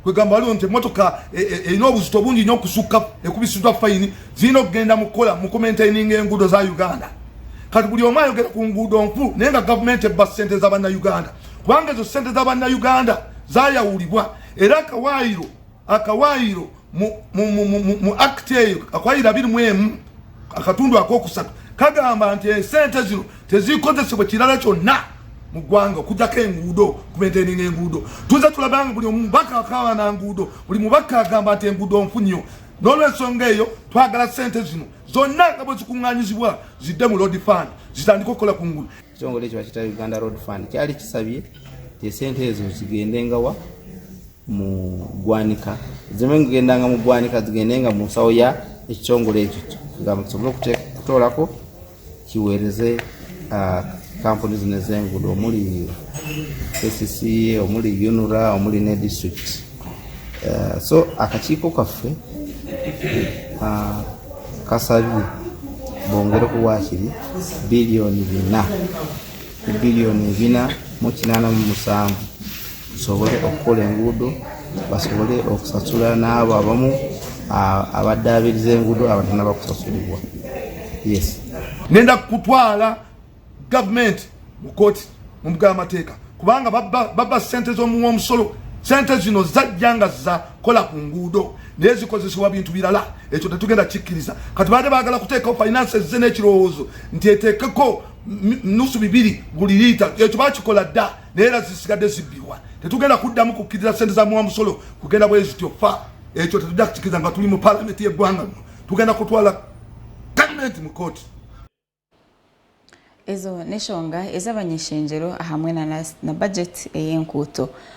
kwegamba waliwo nti emotoka e, e, erina obuzito bungi nyo okusukka ekubisiddwa fayini zirina okugenda mukukola mukumentaininga enguudo za uganda kati buli omu ayogera ku nguudo nfu naye nga gavumenti ebba sente za bannauganda kubanga ezo sente za bannauganda zayawulibwa era akawaayiro akawaayiro mu akti eyo akawaayiro abiri mu emu akatundu akokusatu kagamba nti esente zino tezikozesebwa kirala kyonna mu ggwanga okujjako enguudo kumaintaininga enguudo tuze tulabanga buli omubaka akawa na nguudo buli mubaka agamba nti enguudo nfunyo n'olwensonga eyo twagala sente zino zonna nga bwe zikuŋŋanyizibwa zidde mu road fund zitandika okukola ku nguudo ekitongole ekyo bakita uganda road fund kyali kisabye ti esente ezo zigendengawa mu ggwanika zimu ngendanga mu ggwanika zigende nga mu nsawo ya ekitongole ekyo nga musobole okutoolako kiweereze ah, kampuni zino ez'enguudo omuli kcca omuli unura omuli ne district ah, so akakiiko kaffe ah, kasabye bongere ku waakiri biliyoni bina biliyoni ebina mu kinaana mu musanvu tusobole okukola enguudo basobole okusasula n'abo abamu abaddaabiriza enguudo abatana bakusasulibwa yes nenda kutwala gavumenti mu kooti mu mbuga y'amateeka kubanga babba sente z'omuwa omusolo sente zino zajja nga zakola ku nguudo naye zikozesebwa bintu birala ekyo tetugenda kikkiriza kati baade baagala kuteekawo finance ze n'ekirowoozo nti eteekeko nusu bibiri buli liita ekyo bakikola dda naye era zisigadde zibbibwa tetugenda kuddamu kukkiriza sente za muwa musolo kugenda bwe zityo fa ekyo tetujja kukikiriza nga tuli mu palamenti y'eggwanga lino tugenda kutwala gavumenti mu kooti ezo neshonga ezabanyeshenjero hamwe na, na budget eyenkuuto